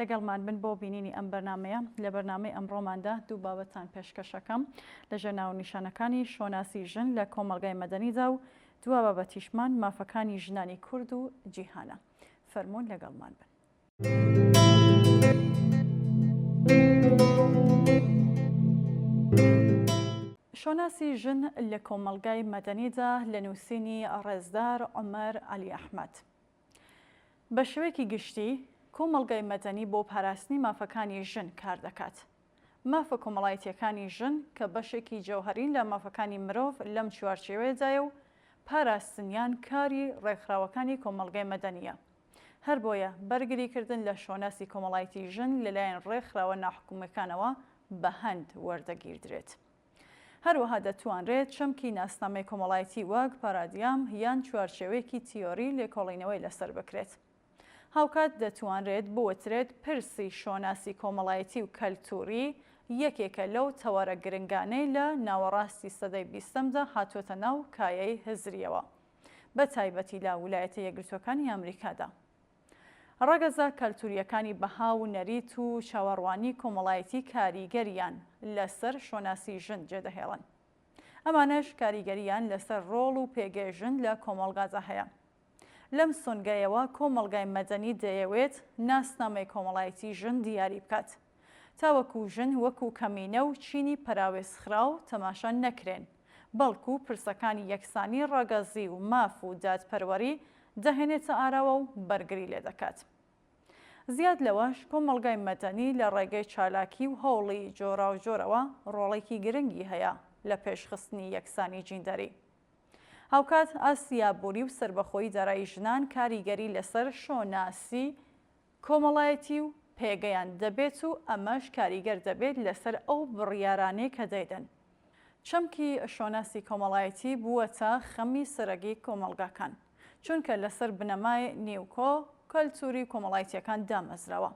لەگەڵمان بن بۆ بینینی ئەم بەرنامەیە لە بەرنامەی ئەمڕۆماندا دوو بابەتان پێشکەشەکەم لە ژێرناو نیشانەکانی شۆناسی ژن لە کۆمەلگای مەدەنیدا و دوا بابەتیشمان مافەکانی ژنانی کورد و جیهانە فەرمونون لەگەڵمان بن. شۆناسی ژن لە کۆمەلگای مەدەنیدا لە نووسینی ڕێزدار عمر علی ئەحمد. بە شێوەیەکی گشتی، کۆمەڵگای مەدەنی بۆ پاراستنی مافەکانی ژن کار دەکات. مافە کۆمەڵایەتییەکانی ژن کە بەشێکی جەوهەرین لە مافەکانی مرۆڤ لەم چوارچێوەیەدایە و پاراستنیان کاری ڕێکخراوەکانی کۆمەڵگای مەدەنییە. هەر بۆیە بەرگریکردن لە شۆناسی کۆمەڵایەتی ژن لەلایەن ڕێکخراوە ناحکومییەکانەوە بە هەند وەردەگیردرێت. هەروەها دەتوانرێت چەمکی ناسنامەی کۆمەڵایەتی وەک پارادیام یان چوارچێوەیەکی تیۆری لێکۆڵینەوەی لەسەر بکرێت. هاوکات دەتوانرێت بوترێت پرسی شۆناسی کۆمەڵایەتی و کەلتووری یەکێکە لەو تەوەرە گرنگانەی لە ناوەڕاستی سەدەی بیستەمدا هاتووەتە ناو کایەی هزرییەوە بە تایبەتی لە ولایەتە یەکگرتووەکانی ئامریکادا. ڕەگەزە کەلتورییەکانی بەها و نەریت و چاوەڕوانی کۆمەڵایەتی کاریگەریان لەسەر شۆناسی ژن جێدەهێڵن. ئەمانەش کاریگەرییان لەسەر ڕۆڵ و پێگەی ژن لە کۆمەڵگادا هەیە. لەم سۆنگەیەوە کۆمەڵگای مەدەنی دەیەوێت ناسنامەی کۆمەڵایەتی ژن دیاری بکات. تاوەکو ژن وەکو کەمینە و چینی پەراوێزخراو تەماشا نەکرێن، بەڵکو پرسەکانی یەکسانی ڕەگەزی و ماف و دادپەروەری دەهێنێتە ئاراوە و بەرگری لێ دەکات. زیاد لەوەش، کۆمەڵگای مەدەنی لە ڕێگەی چالاکی و هەوڵی جۆراوجۆرەوە ڕۆڵێکی گرنگی هەیە لە پێشخستنی یەکسانی جیندەری. هاوکات ئاستی ئابووری و سەربەخۆی دارایی ژنان کاریگەری لەسەر شۆناسی، کۆمەڵایەتی و پێگەیان دەبێت و ئەمەش کاریگەر دەبێت لەسەر ئەو بڕیارانەی کە دەیدەن. چەمکی شۆناسی کۆمەڵایەتی بووەتە خەمی سەرەگی کۆمەڵگاکان، چونکە لەسەر بنەمای نیوکۆ کەلتوری کۆمەڵایتیەکان دامەزراوە.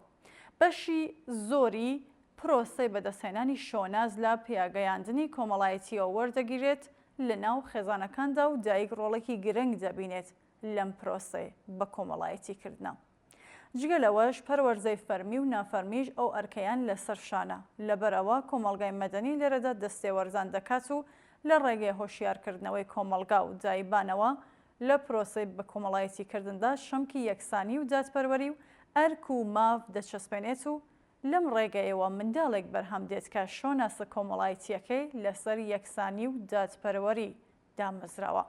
بەشی زۆری پرۆسەی بەدەستهێنانی شۆناس لە پیاگەیاندنی کۆمەڵایەتیەوە وەردەگیرێت لەناو خێزانەکاندا و دایک ڕۆڵێکی گرنگ دەبینێت لەم پرۆسەی بەکۆمەڵایەتی کردنە. جگە لەوەش پەروەردەی فەرمی و نافەرمیش ئەو ئەرکەیان لەسەر شانە، لەبەرئەوە کۆمەڵگای مەدەنی لێرەدا دەستێوەردان دەکات و لە ڕێگەی هۆشیارکردنەوەی کۆمەڵگا و دایبانەوە لە پرۆسەی بەکۆمەڵایەتیکردندا شەمکی یەکسانی و دادپەروەری و ئەرک و ماف دەچەسپێنێت و لەم ڕێگەیەوە منداڵێک بەرهەم دێت کە شۆناسە کۆمەڵایەتییەکەی لەسەر یەکسانی و دادپەروەری دامەزراوە.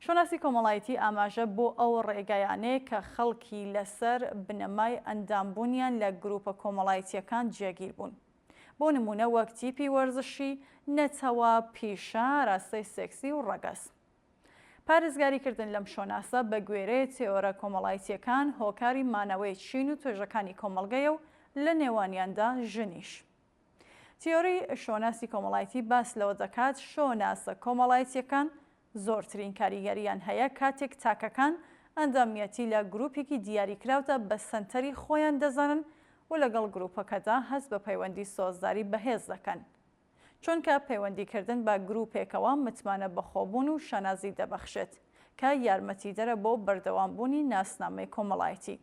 شۆناسی کۆمەڵایتی ئاماژە بۆ ئەو ڕێگایانەیە کە خەڵکی لەسەر بنەمای ئەندامبوونیان لە گرووپە کۆمەڵایتییەکان جێگیر بوون. بۆ نموونە وەک تیپی وەرزشی، نەتەوە، پیشە، ئاراستەی سێکسی و ڕەگەز. پارێزگاری کردن لەم شۆناسە بە گوێرەی تێۆرە کۆمەڵایتییەکان هۆکاری مانەوەی چین و توێژەکانی کۆمەڵگەیە و لە نێوانیاندا ژنیش. تیۆری شۆناسی کۆمەڵایتی باس لەوە دەکات شۆناسە کۆمەڵایتییەکان زۆرترین کاریگەرییان هەیە کاتێک تاکەکان ئەندامیەتی لە گروپێکی دیاریکراودا بە سەنتەری خۆیان دەزانن و لەگەڵ گروپەکەدا هەست بە پەیوەندی سۆزداری بەهێز دەکەن چونکە پەیوەندیکردن بە گروپێکەوە متمانە بەخۆبوون و شانازی دەبەخشێت کە یارمەتیدەرە بۆ بەردەوامبوونی ناسنامەی کۆمەڵایتی.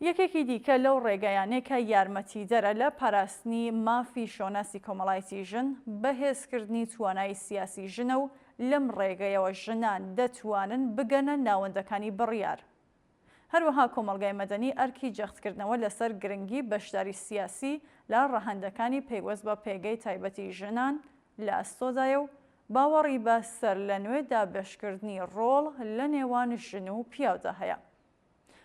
یەکێکی دیکە لەو ڕێگایانەی کە یارمەتیدەرە لە پاراستنی مافی شۆناسی کۆمەڵایەتی ژن، بەهێزکردنی توانایی سیاسی ژنە و لەم ڕێگەیەوە ژنان دەتوانن بگەنە ناوەندەکانی بڕیار. هەروەها کۆمەڵگای مەدەنی ئەرکی جەختکردنەوە لەسەر گرنگی بەشداری سیاسی لە ڕەهەندەکانی پەیوەست بە پێگەی تایبەتی ژنان لە ئەستۆدایە و باوەڕی بە سەرلەنوێ دابەشکردنی ڕۆڵ لە نێوان ژن و پیاودا هەیە.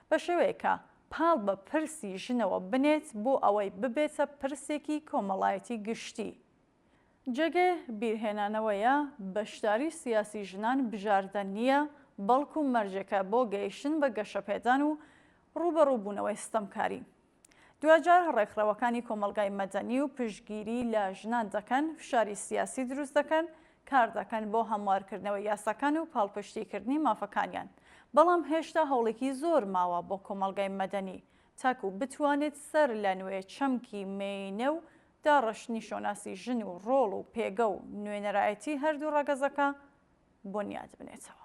بە شێوەیەک کە پاڵ بە پرسی ژنەوە بنێت بۆ ئەوەی ببێتە پرسێکی کۆمەڵایەتی گشتی، جێگەی بیرهێنانەوەیە بەشداری سیاسی ژنان بژاردە نییە، بەڵکو مەرجێکە بۆ گەیشتن بە گەشەپێدان و ڕووبەڕووبوونەوەی ستەمکاری. دواجار ڕێکخراوەکانی کۆمەڵگای مەدەنی و پشتگیری لە ژنان دەکەن، فشاری سیاسی دروست دەکەن، کاردەکەن بۆ هەموارکردنەوەی یاساکان و پاڵپشتیکردنی مافەکانیان، بەڵام هێشتا هەوڵێکی زۆر ماوە بۆ کۆمەڵگای مەدەنی تاکو بتوانێت سەر لە نوێ چەمکی مێینە و داڕشتنی شۆناسی ژن و ڕۆڵ و پێگە و نوێنەرایەتی هەردوو ڕەگەزەکە بونیاد بنێتەوە.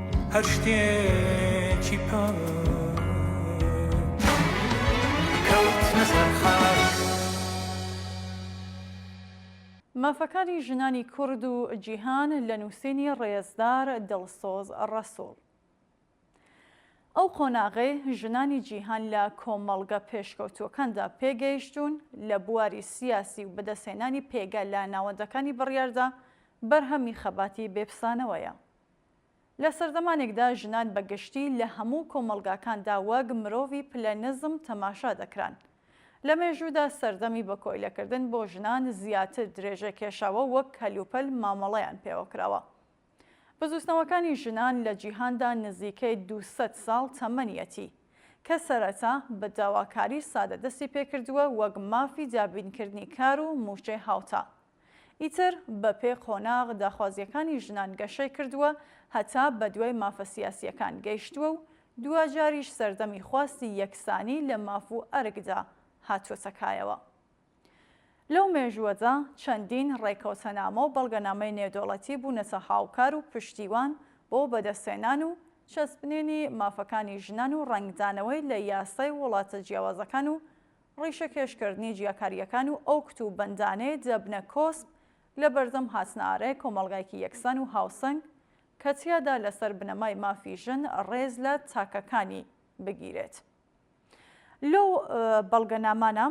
هەر شتێکی پاک کەوتنە سەر خاک. مافەکانی ژنانی کورد و جیهان لە نووسینی ڕێزدار دڵسۆز ڕەسوڵ ئەو قۆناغەی ژنانی جیهان لە کۆمەڵگە پێشکەوتووەکاندا پێگەیشتوون لە بواری سیاسی و بەدەستهێنانی پێگە لە ناوەندەکانی بڕیاردا بەرهەمی خەباتی بێپسانەوەیە. لە سەردەمانێکدا ژنان بە گشتی لە هەموو کۆمەڵگاکاندا وەک مرۆڤی پلە نزم تەماشا دەکران. لە مێژوودا سەردەمی بە کۆیلەکردن بۆ ژنان زیاتر درێژە کێشاوە وەک کەلوپەل مامەڵەیان پێوە کراوە. بزووتنەوەکانی ژنان لە جیهاندا نزیکەی دوو سەد ساڵ تەمەنیەتی، کە سەرەتا بە داواکاری سادە دەستی پێکردووە وەک مافی دابینکردنی کار و مووچەی هاوتا. ئیتر بە پێ قۆناغ داخوازیەکانی ژنان گەشەی کردوە هەتا بە دوای مافە سیاسیەکان گەیشتوە و دواجاریش سەردەمی خواستی یەکسانی لە ماف و ئەرکدا هاتوەتە کایەوە. لەو مێژوەدا چەندین ڕێکەوتەنامە و بەڵگەنامەی نێودەوڵەتی بونەتە هاوکار و پشتیوان بۆ بەدەستهێنان و چەسپنینی مافەکانی ژنان و ڕەنگدانەوەی لە یاسای وڵاتە جیاوازەکان و ڕیشەکێشکردنی جیاکارییەکان و ئەو کوت و بەندانەی دەبنە کۆسپ لە بەردەم هاتنەئارای کۆمەڵگایەکی یەکسان و هاوسەنگ کە تیادا لەسەر بنەمای مافی ژن ڕێز لە تاکەکانی بگیرێت. لەو بەڵگەنامانە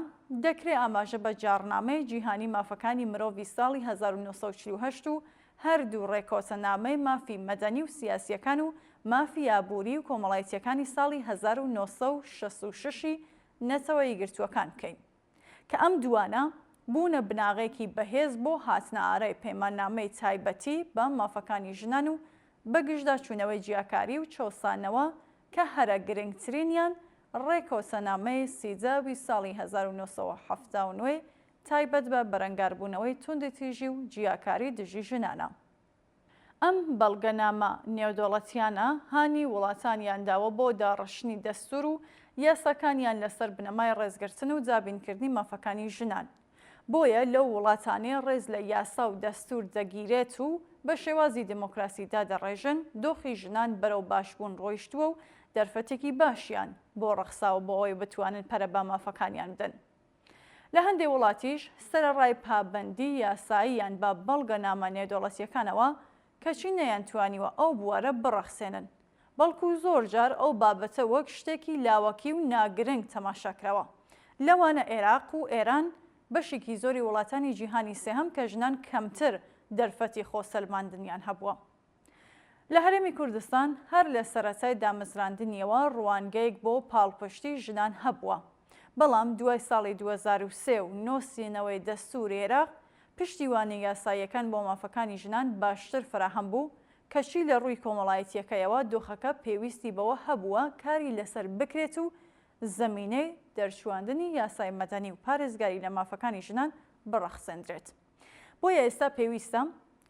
دەکرێ ئاماژە بە جاڕنامەی جیهانی مافەکانی مرۆڤی ساڵی هەزار و نۆ سەد و چل و هەشت و هەردوو ڕێکەوتەنامەی مافی مەدەنی و سیاسییەکان و مافی ئابووری و کۆمەڵایتییەکانی ساڵی هەزار و نۆ سەد و شەست و شەش ی نەتەوە یەکگرتووەکان بکەین، کە ئەم دووانە بوونە بناغەیەکی بەهێز بۆ هاتنەئارای پەیماننامەی تایبەتی بە مافەکانی ژنان و بەگژدا چوونەوەی جیاکاری و چەوسانەوە کە هەرە گرنگترینیان ڕێکەوتەنامەی سیدە ی ساڵی هەزار و نۆ سەد و حەفتا و نۆ ی تایبەت بە بەرەنگاربوونەوەی توندوتیژی و جیاکاری دژی ژنانە. ئەم بەڵگەنامە نێودەوڵەتییانە هانی وڵاتانیان داوە بۆ داڕشتنی دەستوور و یاساکانیان لەسەر بنەمای ڕێزگرتن و دابینکردنی مافەکانی ژنان. بۆیە لەو وڵاتانەی ڕێز لە یاسا و دەستوور دەگیرێت و بە شێوازی دێمۆکراسی دادەڕێژن، دۆخی ژنان بەرەو باشبوون ڕۆیشتووە و دەرفەتێکی باشیان بۆ ڕەخساوە بۆ ئەوەی بتوانن پەرە بە مافەکانیان بدەن. لە هەندێ وڵاتیش سەرەڕای پابەندی یاسایی یان بە بەڵگەنامە نێودەوڵەتییەکانەوە کەچی نەیانتوانیوە ئەو بوارە بڕەخسێنن، بەڵکو زۆر جار ئەو بابەتە وەک شتێکی لاوەکی و ناگرنگ تەماشا کراوە. لەوانە ئێراق و ئێران، بەشێکی زۆری وڵاتانی جیهانی سێهەم کە ژنان کەمتر دەرفەتی خۆسەلماندنیان هەبووە. لە هەرێمی کوردستان هەر لە سەرەتای دامەزراندنیەوە ڕوانگەیەک بۆ پاڵپشتی ژنان هەبووە، بەڵام دوای ساڵی دوو هەزار و سێ و نۆسینەوەی دەستوری عێراق، پشتیوانی یاساییەکان بۆ مافەکانی ژنان باشتر فەراهەم بوو، کەچی لە ڕووی کۆمەڵایەتییەکەیەوە دۆخەکە پێویستی بەوە هەبووە کاری لەسەر بکرێت و زەمینەی دەرچوواندنی یاسای مەدەنی و پارێزگاری لە مافەکانی ژنان بڕەخسێندرێت. بۆیە ئێستا پێویستە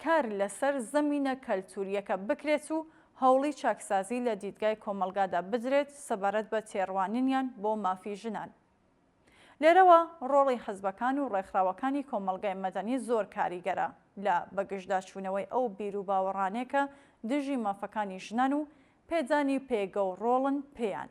کار لەسەر زەمینە کەلتورییەکە بکرێت و هەوڵی چاکسازی لە دیدگای کۆمەڵگادا بدرێت سەبارەت بە تێڕوانینیان بۆ مافی ژنان. لێرەوە ڕۆڵی حزبەکان و ڕێکخراوەکانی کۆمەڵگای مەدەنی زۆر کاریگەرە لە بەگژداچوونەوەی ئەو بیروباوەڕانەی کە دژی مافەکانی ژنان و پێدانی پێگە و ڕۆڵن پێیان.